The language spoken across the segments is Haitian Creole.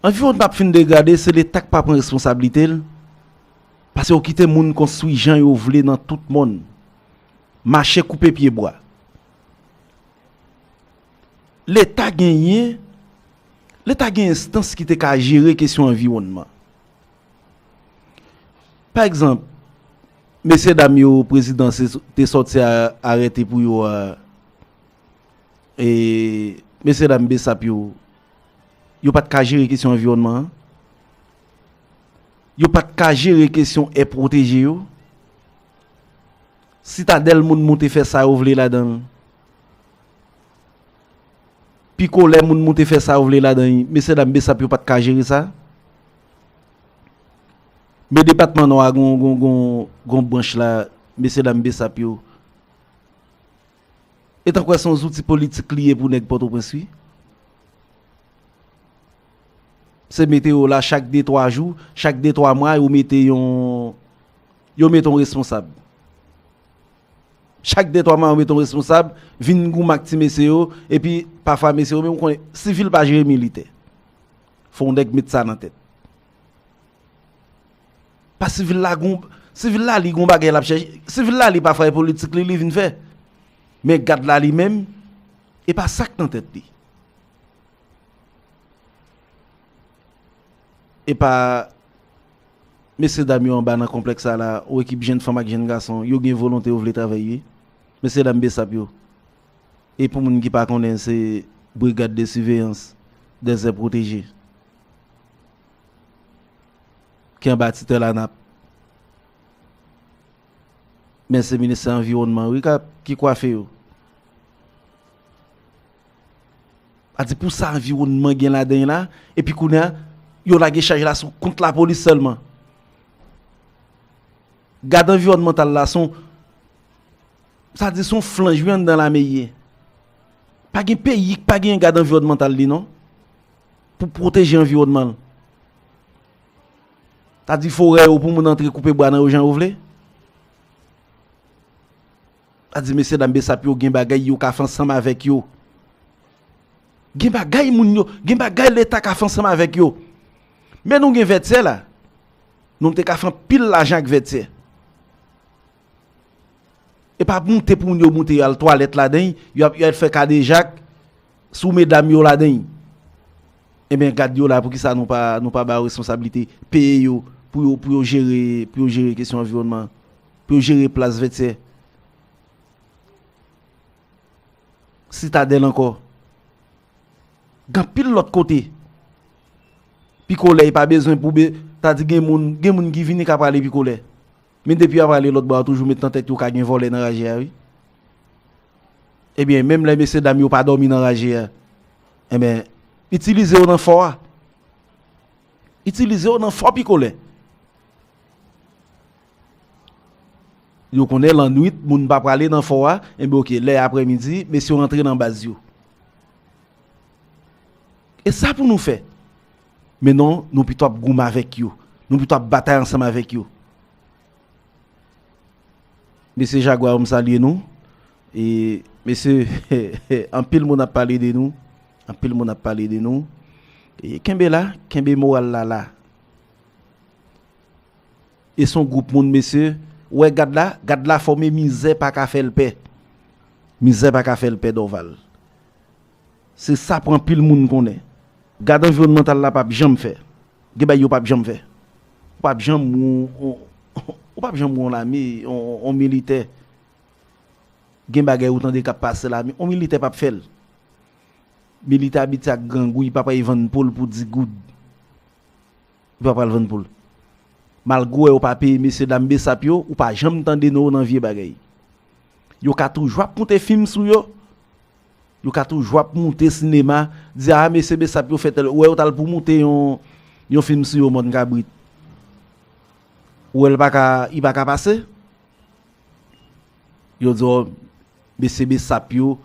Anviwonn pa p fin degrade, se Leta k pa pran responsablite l, pase yo kite moun konstwi jan yo vle nan tout mòn, mache koupe pye bwa. Leta genyen, Leta gen enstans ki te ka jere kesyon anviwònman. Pa egzanp, mesye dam yo prezidan te sòti arete pou yo a, Mesye dam bsap yo, yo pat ka jere kesyon environman an? Yo pat ka jere kesyon è pwoteje yo? Sitadèl moun moute fè sa yo vle ladan l? Pikolè moun moute fè sa yo vle ladan l? Mesye dam bsap yo pat ka jere sa? Men depatman nò a gon branch la, mesye dam bsap yo. E ta kwè son zouti politik li ye pou nèg pòtoprens wi. Se mete yo la chak de twa jou, chak de twa mwa yo mete yon yo mete yon responsab. Chak de twa mwa yo mete yon responsab, vin goumen ak ti mesye yo, epi pafwa mesye yo menm konnen sivil pa jere militè. Fon nèg met sa nan tèt. Pa sivil la gon, sivil la li gon bagay lap chèche, sivil la li pa fè politik li li vin fè. Men gad la li menm, e pa sak nan tèt li. E pa mesye dam yo anba nan konplèks sa la, ou ekip jenn fanm ak jenn gason, yo gen volonte yo vle travay wi. Mesye dam besap yo. E pou moun ki pa konnen se brigad de siveyans dezè pwoteje. ki anba titèl ANAP. Men se ministè anviwònman wi ki kwafe yo. A di pou sa anviwònman gen ladan la, epi kounye a, yo lage chaj la sou kont lapolis sèlman. Gad anviwònmantal la son, sa di son flanj wi anndan lame ye. Pa gen peyi ki pa gen gad anviwònmantal li non. Pou pwoteje anviwònman l. Ta di forè yo pou moun antre koupe bwa nan yo jan yo vle. Ta di mesye dam besap yo gen bagay yo ka fè ansanm avèk yo. Gen bagay moun yo, gen bagay leta ka fè ansanm avèk yo. Men nou gen vètyè la. Nou te ka fè anpil lajan ak vètyè. E pa moute pou moun yo moute yo al twalèt ladan y, yo ap yo al fè kadejak sou medam yo ladan y. Enben gad yo la pou ki sa nou pa nou pa ba yo responsablite, peye yo pou yo pou yo jere pou yo jere kesyon anviwònman, pou yo jere plas Vètyè. Sitadèl ankò. Gan pil lòt kote. Pikolè y pa bezwen pou be ta di gen moun gen moun ki vini ka prale pikolè. Men depi yap ale lòt bò a toujou met nan tèt yo ka gen vòlè nan raje a wi. Ebyen menm lè mesye dam yo pa dòmi nan raje a enben itilize yo nan fò a. Itilize yo nan fò pikolè. Yo konnen lannwit moun pa prale nan fò a enben ok lè aprè midi mesye yo antre nan baz yo. E sa pou nou fè. Men non, nou pito ap goumen avèk yo. Nou pito ap batay ansanm avèk yo. Mesye Jagwa yo m salye nou. E mesye anpil moun ap pale de nou. Anpil moun ap pale de nou. E kenbe la, kenbe moral la la. E son group moun mesye. Ou wè gad la, gad la fòme mizè pa ka fèl pè. Mizè pa ka fèl pè Dorval. Se sa pou anpil moun konnen. Gad anviwònmantal la pap janm fè. Gen bagay yo pap janm fè. Ou pap janm wè yon, ou pap janm wè yon lame, yon militè. Gen bagay ou tande kap pase lame, yon militè pap fè l. Militè abitye ak grangou, li pa pral vann po l pou 10 goud. Li pa pral vann po l. Malgre yo pa peye mesye dam besap yo, ou pa janm tande non yo nan vye bagay. Yo ka toujou ap konte fim sou yo. Yo ka toujou ap moute sinema, di a mesye besap yo fè tèl, ou wè yo tal pou moute yon yon film sou yo mòn kabrit. Ou wèl pa ka, li pa ka pase? Yo di w mesye besap yo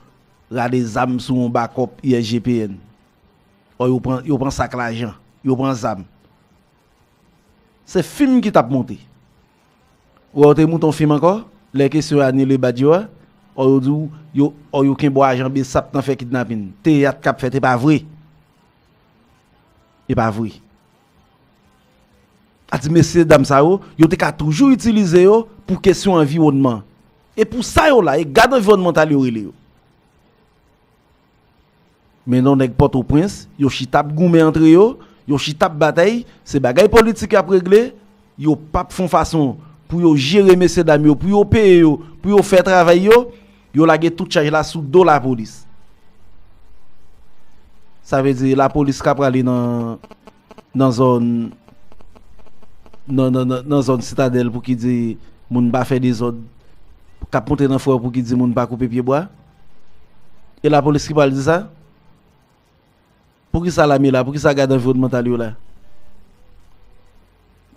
rale zam sou yon bakòp ISGPN. Ò yo pran, yo pran sak lajan, yo pran zam. Se film ki tap moute. Ou wè ou te mouton fim ankò lè kesyon anile badge yo a or yo diw yo or yo kenbe w a jan besap nan fè kidnapin. Teyat kap fèt epa vre. Epa vre. A di mesye dam sa yo, yo te ka toujou itilize yo pou kesyon anviwònman. E pou sa yo la e gad anviwònmantal yo rele yo. Men non nèg Pòtoprens, yo chita ap goumen antre yo, yo chita ap batay, se bagay politik y ap regle, yo p ap fon fason pou yo jere mesye dam yo, pou yo peye yo, pou yo fè travay yo, yo lage tout chaj la sou do lapolis. Sa vle di lapolis ka prale nan zòn, nan zòn sitadèl pou ki di moun pa fè dezòd, k ap monte nan fò pou ki di moun pa koupe pye bwa. E la polis ki pral di sa? Poukisa lame la? Poukisa gad anviwònmantal yo la?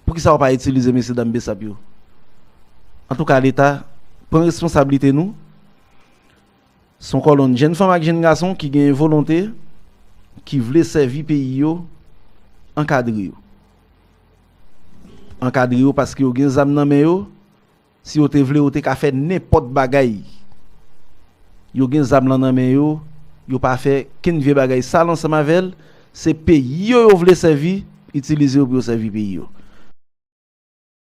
Poukisa yo pa itilize mesye dam besap yo? Antouka leta, pran responsablite nou. Son kòlonn jenn fanm ak jenn gason ki gen volonte, ki vle sèvi peyi yo, ankadre yo. Ankadre yo paske yo gen zam nan men yo, Si yo te vle yo te ka fè nenpòt bagay. Yo gen zam lan nan men yo, yo pa fè kenn vye bagay sal ansanm avè l, se peyi yo yo vle sèvi, itilize yo pou yo sèvi peyi yo.